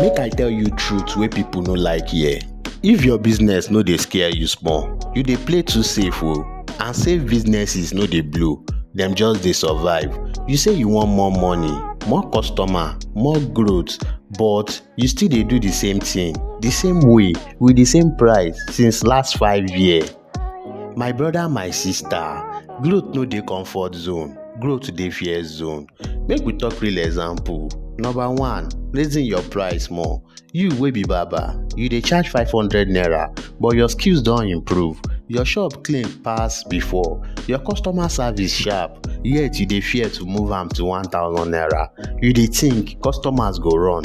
Make I tell you truth wey people no like hear. If your business no dey scare you small, you dey play too safe o. And safe businesses no dey blow, dem just dey survive. You say you want more money, more customer, more growth, but you still dey do the same thing, the same way, with the same price since last five year. My brother my sister, growth no dey comfort zone, growth dey fear zone. Make we talk real example, number one, raising your price more, you wey be barber, you dey charge five hundred naira but your skills don improve, your shop clean pass before, your customer service sharp yet you dey fear to move am to one thousand naira, you dey think customers go run.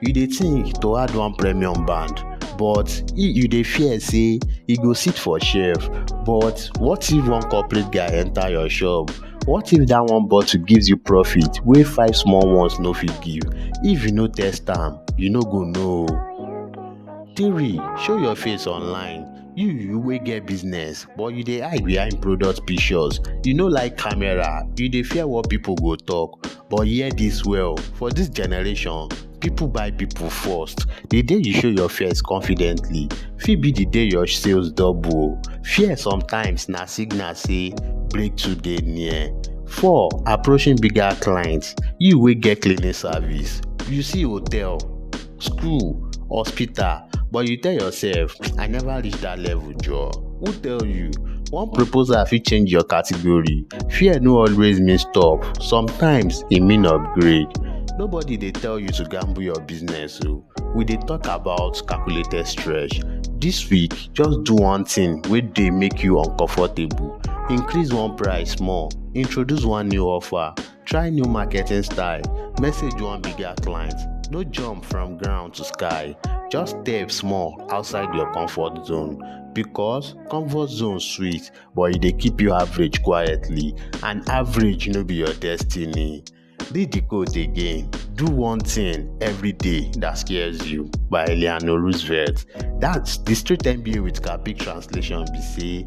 you dey think to add one premium band but e you dey fear say e go sit for shelf but what if one corporate guy enter your shop what if that one bottle gives you profit wey five small ones no fit give if you no test am you no go know three show your face online you you wey get business but you dey hide behind product pictures you no like camera you dey fear what people go talk but hear this well for this generation people buy people first the day you show your fears confidently fit be the day your sales double o fear sometimes na signal say breakthrough dey near four approaching bigger clients you wey get cleaning service you see hotel school, hospital but you tell yourself I never reach that level joor. Who tell you? One proposal fit change your category. Fear no always mean stop. Sometimes e mean upgrade. Nobody dey tell you to gamble your business o. We dey talk about calculated stretch. This week, just do one thing wey dey make you uncomfortable. Increase one price small, introduce one new offer Try new marketing style, message one bigger client, no jump from ground to sky, just step small outside your comfort zone because comfort zone sweet but e dey keep you average quietly and average no be your destiny. Read the quote again, do one thing every day that scares you by Eleanor Roosevelt. That's the straight MBA with Capic translation be say